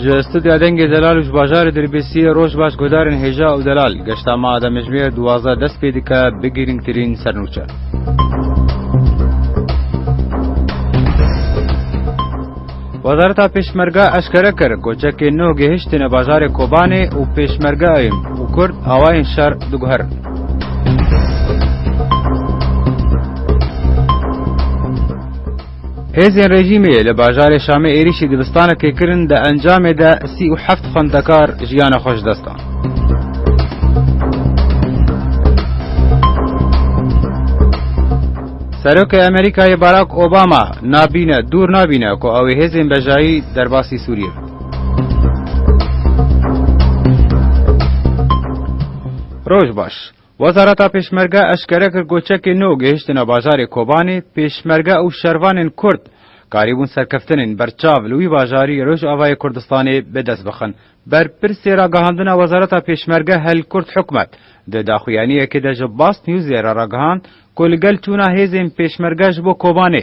Ji studya dengê delal û ji bajarê Dirbêsiyê rojbaş guhdarên hêja û delal, geşta me a demijimêr duwazdeh dest pê dike bi girîngtirîn sernûçe. Wezareta Pêşmerge eşkere kir, koçekên nû gihiştine bajarê Kobanê û pêşmergeayn û kurd awayên şer diguherin. Hêzên rejîmê li bajarê Şamê êrîşî dibistanekê kirin, di encamê de sî û heft xwendekar jiyana xwe ji dest dan. Serokê Amerîkayê Barack Obama nabîne dûr nabîne ku ew ê hêzên bejayî derbasî Sûriyê bikin. Roj baş. Wezareta Pêşmerge eşkere kir ku çekên nû gihiştine bajarê Kobanê, Pêşmerge û şervanên Kurd karîbûn serkeftinên berçav li wî bajarî Rojavayê Kurdistanê bi dest bixin. Berpirsê ragihandina Wezareta Pêşmerge Hel Kurt Hikmet, di daxuyaniyekê de ji Basnewsê re ragihand ku li gel çûna hêzên Pêşmerge ji bo Kobanê,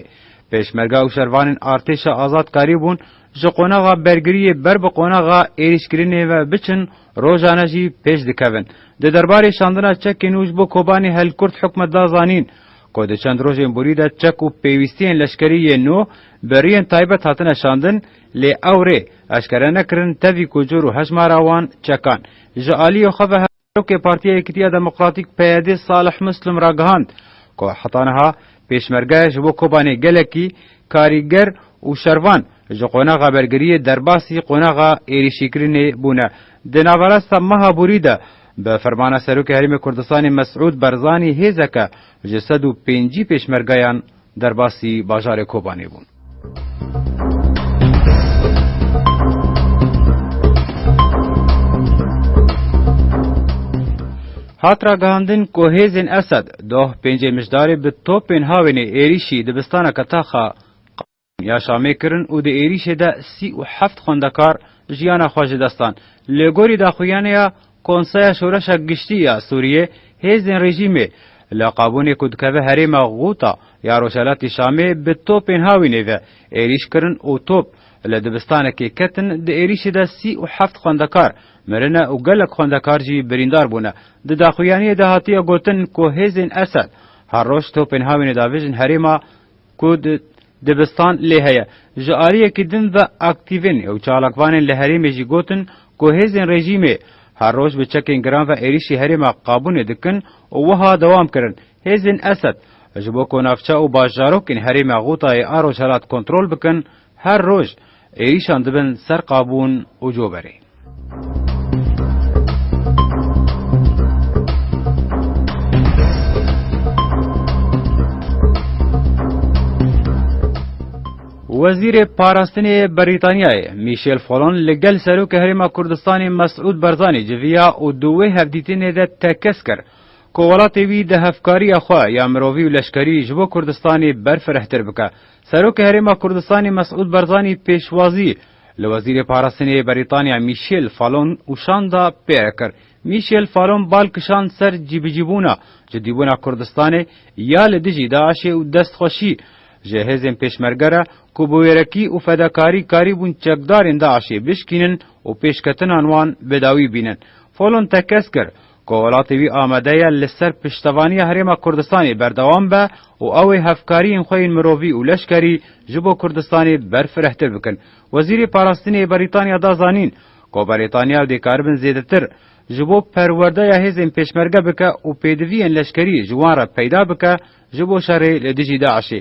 Pêşmerge û şervanên Artêşa Azad karî bûn ji qonaxa bergiriyê ber bi qonaxa êrîşkirinê ve biçin, rojane jî pêş dikevin. Di derbarê şandina çekê nû ji bo Kobanê Hel Kurt Hikmet da zanîn ku di çend rojên borî de çek û pêwîstiyên leşkerî yên nû bi riyên taybet hatine şandin, Lê ew rê eşkere nekirin tevî ku cor û hejmara wan çekan. Ji aliyê xwe ve Hevserokê Partiya Yekitiya Demokratîk, PYD, Salih Muslim ragihand ku heta niha Pêşmerge ji bo Kobanê gelekî karîger û şervan ji qonaxa bergiriyê derbasî qonaxa êrîşîkirinê bûne. Di naverasta meha borî de bi fermana Serokê Herêmê Kurdistanê Mesûd Barzanî hêzeke ji sed û pêncî pêşmergeyan Derbasî bajarê Kobanê bûn. Hat ragihandin ku hêzên Esed doh pêncê Mijdarê bi topên Hawênê êrîşî dibistaneke tax a Qam ya Şamê kirin û di êrîşê de sî û heft xwendekar jiyana xwe ji dest dan. Li gorî daxuyanê ya Konseya Şoreşa Giştî ya Sûriyê hêzên rejîmê li qabûnê ku dikeve herêma Gûta ya Rojhelatî Şamê bi topên hawînê ve êrîş kirin û top li dibistanekê ketin di êrîşê de sî û heft xwendekar mirine û gelek xwendekar jî birîndar bûne. Di daxuyaniyê de hatiye gotin ku hêzên Esed her roj topên hawînê davêjin herêma ku di dibistan lê heye. Ji aliyekî din ve aktîvên û çalakvanên li herêmê jî gotin ku hêzên rejîmê her roj bi çekên giran ve êrîşî herêma Qabûnê dikin û wiha dewam kirin, Hêzên Esed ji bo ku navçe û bajarokên herêma Ghûtayê a rojhilat kontrol bikin, Her roj êrîşan dibin ser qabûn û coberê. Wezîrê Parastinê yê Brîtanyayê Mîşel Folon li gel Serokê Herêma Kurdistanê Mesûd Barzanî civiya û di wê hevdîtinê de tekez kir ku welatê wî di hevkariya xwe ya mirovî û leşkerî ji bo Kurdistanê berfirehtir bike Serokê Herêma Kurdistanê Mesûd Barzanî pêşwazî li Wezîrê Parastinê yê Berîtanya Mîşêl Falon û şanda pêre kir. Mîşêl Falon bal kişand ser cîbicîbûna cidîbûna Kurdistanê ya li dijî DAIŞ'ê û destxweşî ji hêzên pêşmerge re ku bi wêrekî û fedakarî karîbûn çekdarên DAIŞ'ê bişkînin û pêşketinan wan bi dawî bînin. Falon tekez kir, Ku welatê wî amade ye li ser piştevaniya Herêma Kurdistanê berdewam be û ew ê hevkariyên xwe yên mirovî û leşkerî ji bo Kurdistanê berfirehtir bikin. Wezîrê Parastinê Berîtanya da zanîn, ku Berîtanya û dêkaribin zêdetir, ji bo perwerdeya hêzên pêşmerge bike û pêdiviyên leşkerî ji wan re peyda bike, Ji bo şerê li dijî DAIŞ'ê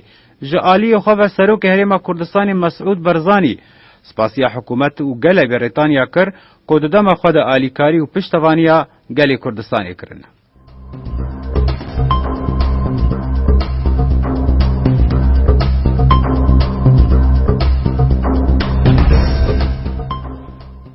ji aliyê xwe ve Serokê Herêma Kurdistanê Mesûd Barzanî spasiya hikûmet û gelê Brîtanya kir ku di dema xwe de alîkarî û piştevaniya gelê Kurdistanê kirine.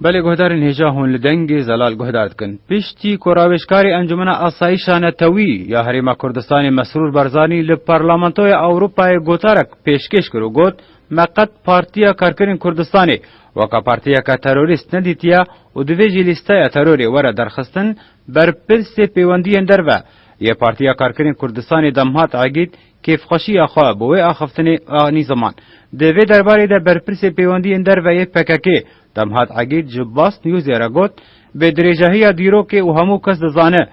Belê guhdarên hêja hûn li dengê zelal guhdar dikin. Piştî ku rawêjkarê Encûmena Asayîşa Netewî ya Herêma Kurdistanê Mesrûr Barzanî li Parlamentoya Ewropayê gotarek pêşkêş kir û got, Me qet Partiya Karkerên Kurdistanê weka partiyeke terorîst nedîtiye û divê jî lîsteya terorê were derxistin, berpirsê pêwendiyên derve yê Partiya Karkerên Kurdistanê Damhat Egîd Kêfxweşiya xwe bi wê axiftinê anî ziman. Di vê derbarê de berpirsê pêwendiyên derve yê PKK'ê Demhat Egîd ji Bast Newsê re got, Bi dirêjahiya dîrokê û hemû kes dizane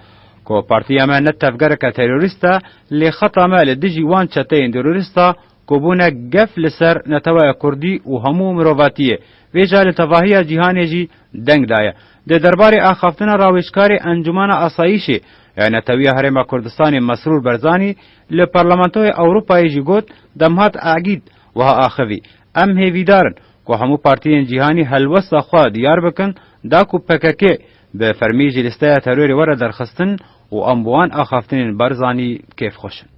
ku partiya me ne tevgereke terorîst e lê xeta me li dijî wan çeteyên terorîst a ku bûne gef li ser netewaya kurdî û hemû mirovatiyê wê jî li tevahiya cîhanê jî deng daye. Di derbarê axaftina rawêjkarê Encûmena Asayîşê Rêya Netewiya Herêma Kurdistanê Mesrûr Berzanî li Parlamentoya Ewropayê jî got, Demhat Egîd wiha axivî, Em hêvîdar in ku hemû partiyên cîhanî helwesta xwe diyar bikin da ku pkk bi fermî ji lîsteya terorê were derxistin û em bi wan axaftinên Berzanî kêfxweş in.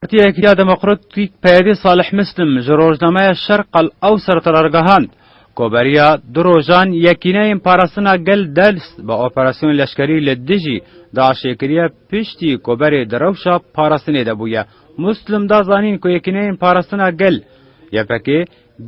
Partiyek ya Demokratîk Peyedê Salih Muslim ji rojnameya Şerq al Ewsert re ragihand ku beriya du rojan Yekîneyên Parastina Gel Ders bi operasyon leşkerî li dijî DAIŞ'ê kiriye piştî ku berê di rewşa parastinê de bûye. Muslim da zanîn ku Yekîneyên Parastina Gel, ypg,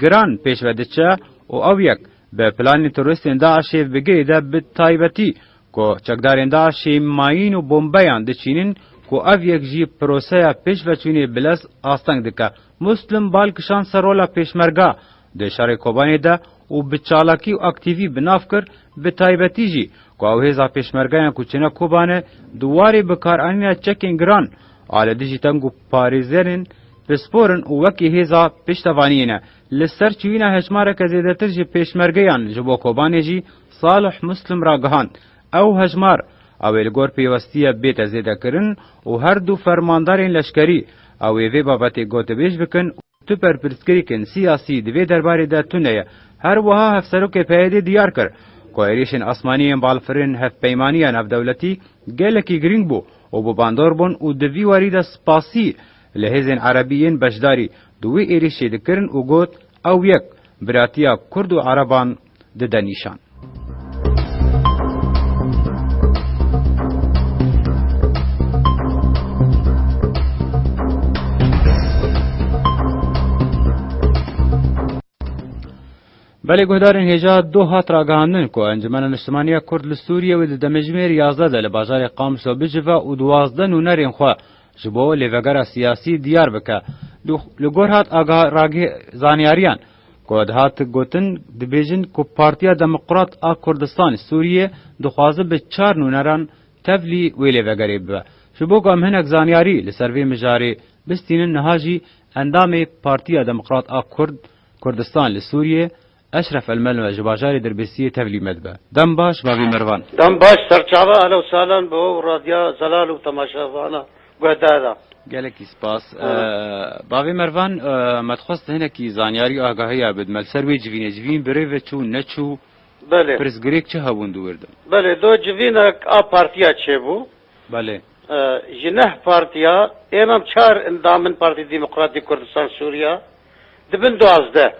giran pêş ve diçe û ew yek bi planên terorîstên DAIŞ'ê bi girê de bi taybetî Ku çekdarên DAIŞ'î mayîn û bombeyan diçînin ku ev yek jî proseya pêşveçûnê bi lez asteng dike. Muslim bal kişand ser rola Pêşmerga di şerê Kobanê de û bi çalakî û aktîvî bi nav kir bi taybetî jî ku ew hêza Pêşmergeyan ku çine Kobanê di warê bikaranîna çekên giran a li dijî teng û parêzerên pispor in û wekî hêza piştevaniyê ne. Li ser çûyîna hejmareke zêdetir ji Pêşmergeyan ji bo Kobanê jî Salih Muslim ragihand, Ew hejmar ew ê li gor pêwestiya bête zêdekirin û her du fermandarên leşkerî ew ê vê babetê gotibêj bikin û tu berpirsgirêkên siyasî di vê derbarê de tune ye. Her wiha Hevserokê PYD'ê diyar kir ku êrîşên asmanî yên balfirên Hevpeymaniya Navdewletî gelekî girîng bû û bi bandor bûn û di vî warî de spasî li hêzên erebî yên beşdarî di wê êrîşê dikirin û got, Ew yek, biratiya kurd û ereban, dide nîşan. Belê guhdarên hêja do hat ragihandin ku Encumena Niştimaniya Kurd li Sûriyê wê di demejimêr yazdeh de li bajarê Qamisa bicive û duwazdeh nûnerên xwe ji bo lêvegera siyasî diyar bike. Li gor hat zanyariyan, Ku dihat gotin, dibêjin ku Partiya Demokrat a Kurdistanê Sûriyê dixwaze bi çar nûneran tevlî wê lê vegerê bibe. Ji bo ku em hinek zanyarî li ser vê mijarê bistînin niha jî endamê Partiya Demokrat a Kurd Kurdistan li Sûriyê Eşref Elmelwe ji bajarê Dirbisiyê tevlî me dibe. Dem baş bavê merivan. Dem baş serçava helewsalan bo radya zelal û temaşevana. guhdarda. Gelekî spas. Bavê Mervan, me dixwest hinekî zanyarî agahiya bid me li ser wê civînê. Civîn bi rê ve çû, neçû? Belê. Pirsgirêk çi hebûn di wir de? Belê, do civînek a partiya çêbû. Belê. Ji neh partiya, ênam çar endam in Partî Demokratîk Kurdistan Sûriya, dibin duazdeh.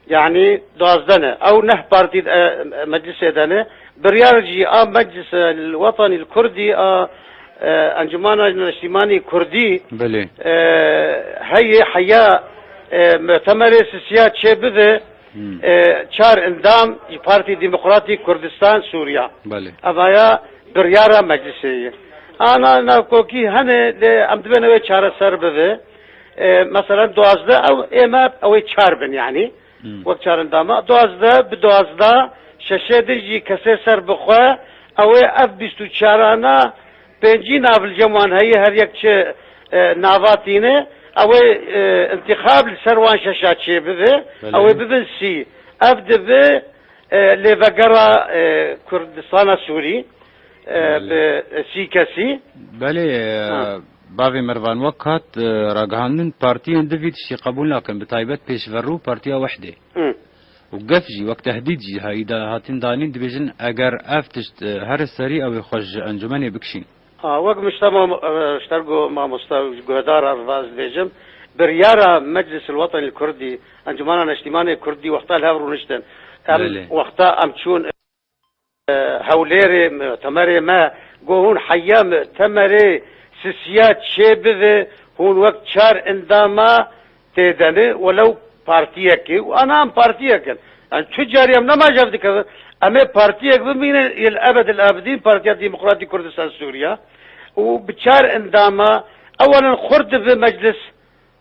Yanî duwazdeh ne ew neh partî di meclisê de ne. Biryar jî a Meclisa Wetanî li Kurdî a Encûmana Neştîmanî Kurdî heyê heya mutemerê sisiya çê bibe çar endam ji Partî Demokratî Kurdistan Sûriya. Ev aya biryara meclisê ye. Ana navkokî hene lê em dibêne wê çareser bibe. Mesela duwazdeh ew ê me ew ê çar bin yanî wek çarendama duwazdeh bi duwazdeh şeşê din jî kesê ser bi xwe ew ê ev bîst û çarana pêncî navilcem wan heye her yek çi nava tîne ew ê întîxab li ser wan şeşa çê bibe ew ê bibin sî ev dibe lêvegera Kurdistana Sûrî bi sî kesî. Belê. Bavê Mervan Wekat ragihandin, Partiyên di vî tiştî qebûl nakin, bi taybet pêşver û Partiya Wehdê û gef jî wek tehdîd jî heyî de hatin danîn, dibêjin eger ev tişt her li serî ew ê xwe ji encûmenê bikişîn. Wek ji ber mamosta û guhedar a Rivaz dibêjim, biryara Meclîs el Wetenî el Kurdî, Encûmena Neştîmanê Kurdî wexta li hev rûniştin, em wexta em çûn, Hewlêrê Temerê me got hûn heya me Temerê sisiya çê bive hûn wek çar endama tê de ne welew partiyekê û ana em partiyek in. Yan tu carî em nema jev dikevin em ê partiyek bimîne yê li ebed il abidîn Partiya Demokratîk Kurdistan Sûriya û bi çar endama ewalin xurt dibe meclis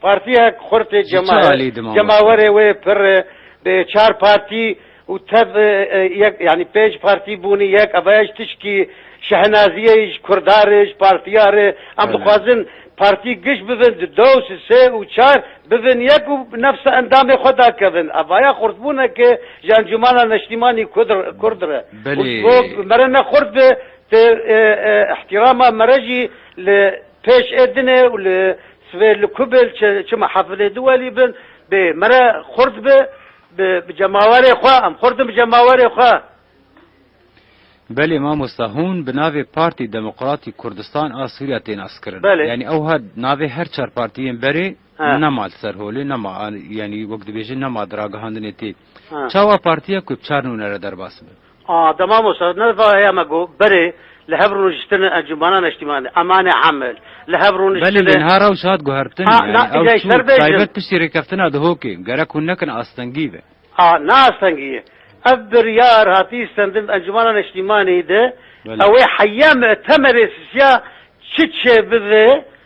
Partiyek xurt ê cemaer, cemawerê wê pir e, bi çar partî û tev yek yanî pênc partî bûnî yek ava ye ji tişkî şehnaziyê yî ji kurdar e, ji partiyar e. Em dixwazin partî giş bibin di dow, sê û çar bibin yek û bi nefsa endamê xwe da kevin. Avaya xurtbûneke ji encûmana neştîmanî kurd re û ji bo mere ne xurt be tê îhtîrama mere jî li Pêş Edine û li sivê li ku bê li çima hafilê di welî bin bê mere xurt bi bi cemawerê xwe em xurt in bi cemawerê xwe. Belê mamosta hûn bi navê Partî Demokratî Kurdistan a Sûriya tê naskirin. Yanî ewha navê her çar partiyên berê nema li ser holê nema yanî wek dibêjin nema di ragihandinê tê. Çawa partiya ku bi çar nûne re derbas be? A, de mamosta, ne va heye me got, berê, li hev rûniştin e Encûmena Neştîman de, Eman e Emel, li hev rûniştin e. Belê, lê niha rewş hat guhertin, A, na, yanî ew îja ji çû, ber bêjin. taybet piştî rêkeftina Dihokê, gerek hûn nekin astengî be. A, ne astengî ye. Ev biryar hatiye stendin Encûmena Neştîmanê de, Belê. ew ê heye me temelê sisiya çi çêbibe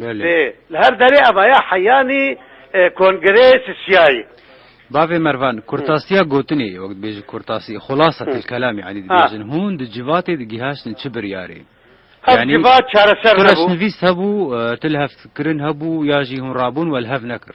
Belê. Li her derê eva ya heyanî kongre sisiyayî. Bavê Mervan, kurtasiya gotinê ye, wek dibêjin kurtasî, xulasa til kelam yanî dibêjin. Hûn di civatê de gîhaştin çi biryarê? Ev civat çareser nebû. Tu reşnivîst hebû, tu li hev kirin hebû ya jî hûn rabûn we li hev nekir?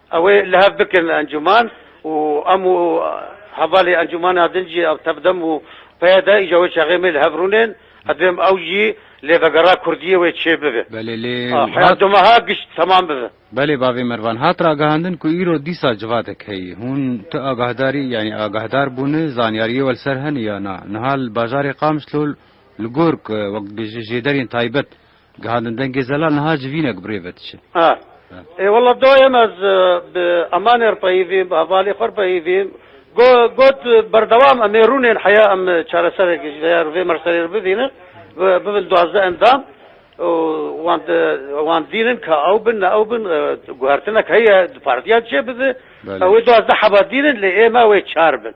Ew ê li hev bikin encûman û em û hevalê encûmana din jî ev tevdem û peyde îja wê çaxê me li hev rûnên. Ez dibêjim ew jî lê vegera kurdiyê wê çê bibe. Belê lê heya du meha gişt temam bibe. Belê bavê Mervan, hat ragihandin ku îro dîsa civadek heye. Hûn tu agahdarî yanî agahdar bûne, zanyariyê we li ser hene ya na? Niha li bajarê Qamşlo li gork wek dibêje jêderên taybet, Gihandin dengê zelal niha ji vînek bi rê ve diçin. A. Ê wela dayem ez bi emanê re peyivîm, bi hevalê xwe re peyivîm. Got berdewam em ê rûnên heya em çareserek ji vê vê merserê re bivînin, bibin duwazdeh endam û wan wan dînin ka ew bin ne ew bin guhertinek heye di partiyan çêbibe. Belê. Ew ê duwazdeh heba dînin lê ê me wê çar bin.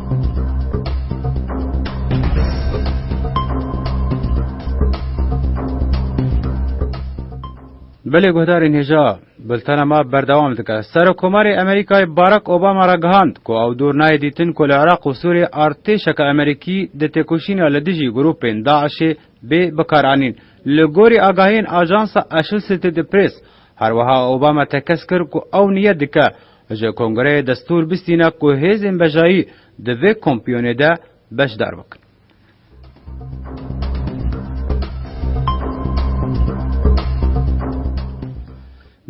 Belê guhdarên hêja, bultena me berdewam dike. Serokomarê Amerîkayê Barak Obama re gihand ku ew dûr nayê dîtin ku li Iraq û Sûriyê artêşeke Amerîkî di têkoşîna li dijî grûpên DAIŞ'ê bê bikaranîn. Li gorî agahiyên ajansa Associated Press, herweha Obama tekez kir ku ew niyet dike Ji Kongreyê Destûr bistîne ku hêzên bejayî di vê kompiyonê de beşdar bikin.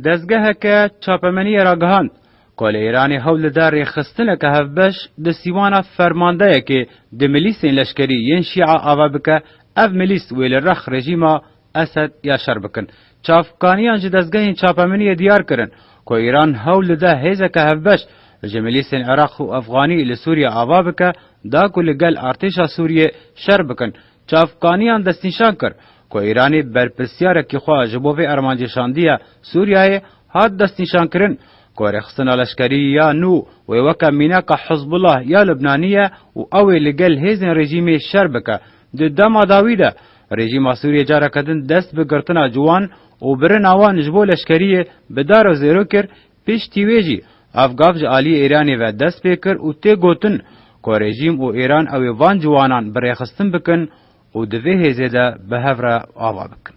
Dezgeheke çapemeniyê ragihand ku li Îranê hewl dide rêxistineke hevbeş di sîwana fermandeyekê di milîsên leşkerî yên Şîa ava bike, ev milîs wê li rex rejîma Esed ya şer bikin. Çavkaniyan ji dezgehên çapemeniyê diyar kirin ku Îran hewl dide hêzeke hevbeş ji milîsên Iraq û Efxanî li Sûriyê ava bike da ku li gel artêşa Sûriyê şer bikin. Çavkaniyan destnîşan kir ku Îranê berpirsyarekî xwe ji bo vê armancê şandiye Sûriyeyê, hat destnîşankirin ku rêxistina leşkerî ya nû wê weke mînaka Hizbullah ya Libnanî ye û ew ê li gel hêzên rejîmê şer bike. Di dema dawî de rejîma Sûriyê careke din dest bi girtina ciwan û birina wan ji bo leşkeriyê bi dar û zêro kir, piştî wê jî ev gav ji aliyê Îranê ve dest pê kir û tê gotin ku rejîm û Îran ew ê van ciwanan bi rêxistin bikin û di vê hêzê de bi hev re ava bikin.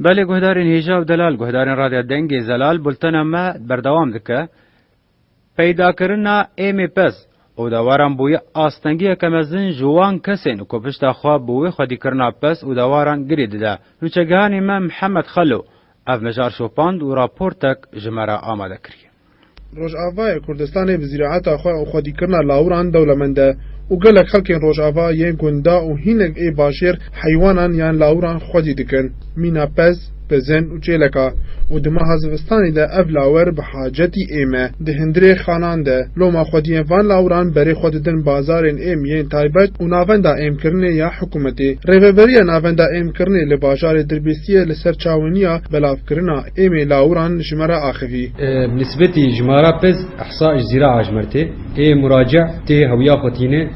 Belê guhdarên hêja û delal, guhdarên Radya Dengê Zelal bultena me berdewam dike. Peydakirina AMPS, Odewaran bûye astengiyeke mezin ji wan kesên ku pişta xwe bi wê xwedîkirina pes û dewaran girê dide. Nûçegihanê me Mihemed Xelo ev mijar şopand û raportek ji me re amade kiriye. Rojavayê Kurdistanê bi zîraeta xwe û xwedîkirina lawiran dewlemend e û gelek xelkên rojava yên gunda û hînek ê bajêr heywanan yan lawiran xwedî dikin. Mîna pez, Pezên û çêleka û di meha zivistanê de ev lawer bi hacetî êm e. Di hundirê xanan de loma xwediyên van lawiran berê xwe didin bazarên êm yên taybet û navenda êmkirinê ya hikûmetê. Rêveberiya Navenda Êmkirinê li bajarê Dirbêsiyê li ser çawiniya belavkirina êmê lawiran ji me re axivî. Bi nisbetî jimara pez, ihsa ji zîra ajmer tê. Ê murace tê hewiya xwe tîne.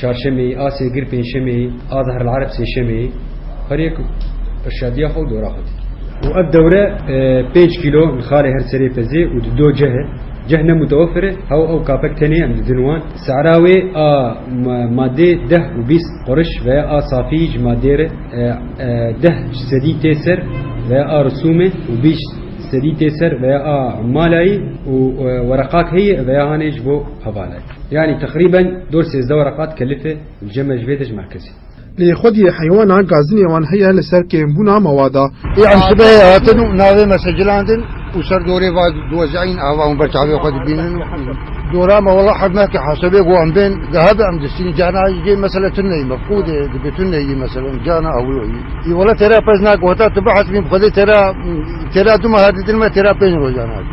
Çarşemê, a sêgir pênşemê, a zehr el areb sêşemê herê ku irşadiya xwe û dora xwe dikî. Û ev dewre pênc kîlo li xalê her serê pezê û di do ceh e. Ceh ne mutewefir e, hew ew kapek tenê em didin wan. Sehra wê a madê deh û bîst qurş veya a safî ji madê re deh sedî tê ser veya a risûmê û bîst sedî tê ser veya a malayî û wereqak heye veya hanê ji bo hevalayî. Yanî teqrîben dor sêzdeh were qat kelife li cem e ji vê de ji merkezê. Lê xwediyê heywana gazinê wan heye li ser kêmbûna mawa de. Yan sibehê hatin û navê me sicilandin û ser dorê va diwezîayin ava û ber çavê xwe dibînin û dora me wela hevme ke hesebê ku em bên gehebe em distînin carna ji cê mesele tune yî mefqûdê dibe tune yî mesele carna ewlo yî yî wela têra pez nake heta tu bihesibîn bi xwedê têra têra du meha didin me têra pênc rojan hate.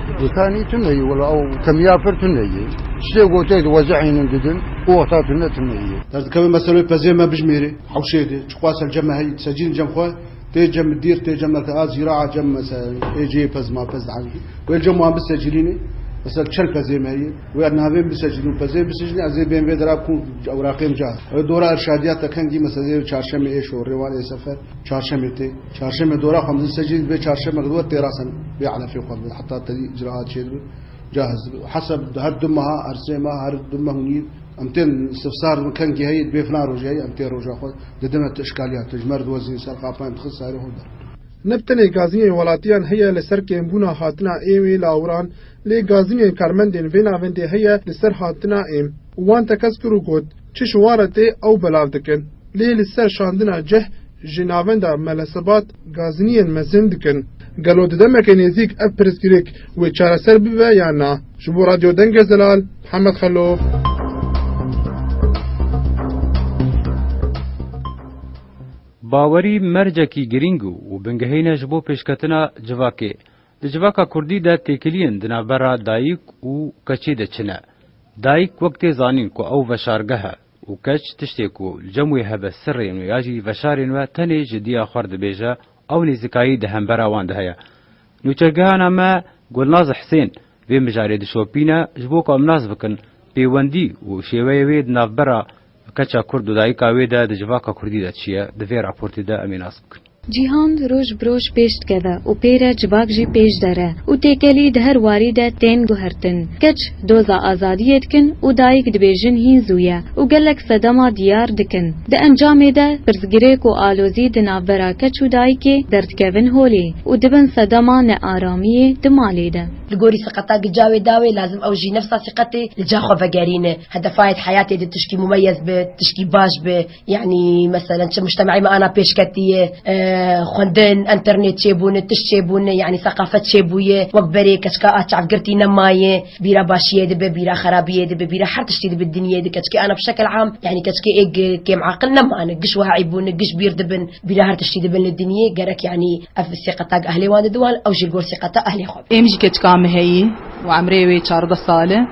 Gotanî tune yê wela ew kemiya pir tune yê. Çitê gotê di weza hînin didin û wexta tune tune yê. Derdikeve meselê pezê me bijmêrî hewşê dê. Çiqua ser cem me heyî di secînin cem xwe tê cem bi dîr tê cem me ke a zîra a cem mesel ê cêyê pez ma pez dihewî wê cem wan bisecîlînê mesel çend pezê me heyî wê navê min bisecîlî û pezê bisicîlî ez ê bên vê dera kû ewraqê min ca hebe dora irşadiyat de kengî meselê çarşemê ê şorê wan ê sefer çarşemê tê. Çarşeme dora xwe mezin sejî dibê çarşeme xwe dibê têrasen bê elefê xwe dibê heta tedî icraat çê dibê cahiz dibê û hesab dibê her du meha her sê meh her du meh û nîv em tên istifsar dibin kengî heye dibê filan rojê heye em tê roja xwe didime tu işkaliyat tu ji me re diwezînî ser xapayên dixin serê xwe der. Ne bi tenê gazînên welatiyan heye li ser kêmbûna hatina êm ê lawiran lê gazînên karmendên vê navendê heye li ser hatina êm û wan tekez kir û got, Çi ji wan re tê ew belav dikin lê li ser şandina cih ji navenda Melesebat gaziniyên mezin dikin. Gelo di demeke nêzîk ev pirsgirêk wê çareser bibe yan na? Ji bo Radyo Denge Zelal, Mihemed Xelo. Bawerî mercekî girîng û bingehîn e ji bo pêşketina civakê. Di civaka kurdî de têkiliyên di navbera dayik û keçê de çi ne? Dayik wek tê zanîn ku ew veşargeh e, Û keç tiştê ku li cem wê hebe sirrên we ya jî veşarên we tenê ji diya xwe re dibêje ew nêzikayî di hembera wan de heye. Nûçegehana me Gulnaz Hisên vê mijarê dişopîne ji bo ku em nas bikin pêwendî û şêweyê wê di navbera keça kurd û dayika wê de di civaka kurdî de çi ye, di vê raportê de em ê nas bikin. Cîhan roj bi roj pêş dikeve û pê re civak jî pêş dere û têkelî di her warî de tên guhertin. Keç doza azadiyê dikin û dayik dibêjin hîn zû ye û gelek sedema diyar dikin. Di encamê de pirsgirêk û alozî di navbera keç û dayikê derdikevin holê û dibin sedema nearamiyê di malê de. Li gorî siqeta gica wê dawê lazim ew jî nefsa siqetê li ca xwe vegerîne. Hedefa yê di heyatê de tişkî mumeyez be, tişkî baş be. Yanî meselen çi mujtemeyê me ana pêşketiyê xwendin, înternêt çêbûne, tişt çêbûne yanî seqafet çêbûye wek berê keçika a çavgirtî nemayê bîra başiyê dibe bîra xerabiyê dibe bîra her tiştî dibe dinyê de keçikê ana bi şekel am yanî keçikê ê kêmaqil nemane giş wiha eybûne giş bîr dibin bîra her tiştî dibin li dinyê gerek yanî ev sîqeta ehlê wan de diwan ew jî li gor sîqeta ehlê xwe be. Êm jî keçika me heyî û emrê wê çardeh sal e.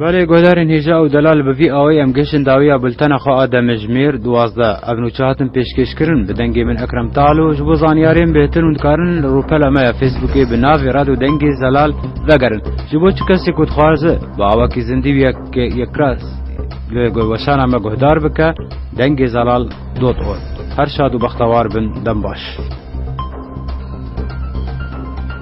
Belê guhdarên hêja û delal bi vî awayî em gihişin dawiya bultena xwe a demejimêr duwazdeh. Ev nûçe hatin pêşkêşkirin bi dengê min Ekrem Talo, ji bo zanyarên bêhtir hûn dikarin li rûpela me ya Fêsbûkê bi navê Radyo Dengê Zelal vegerin. Ji bo çi kesê ku dixwaze bi awakî zindî û yekras li weşana me guhdar bike, Dengê Zelal dot org. Her şad û bextewar bin, dem baş.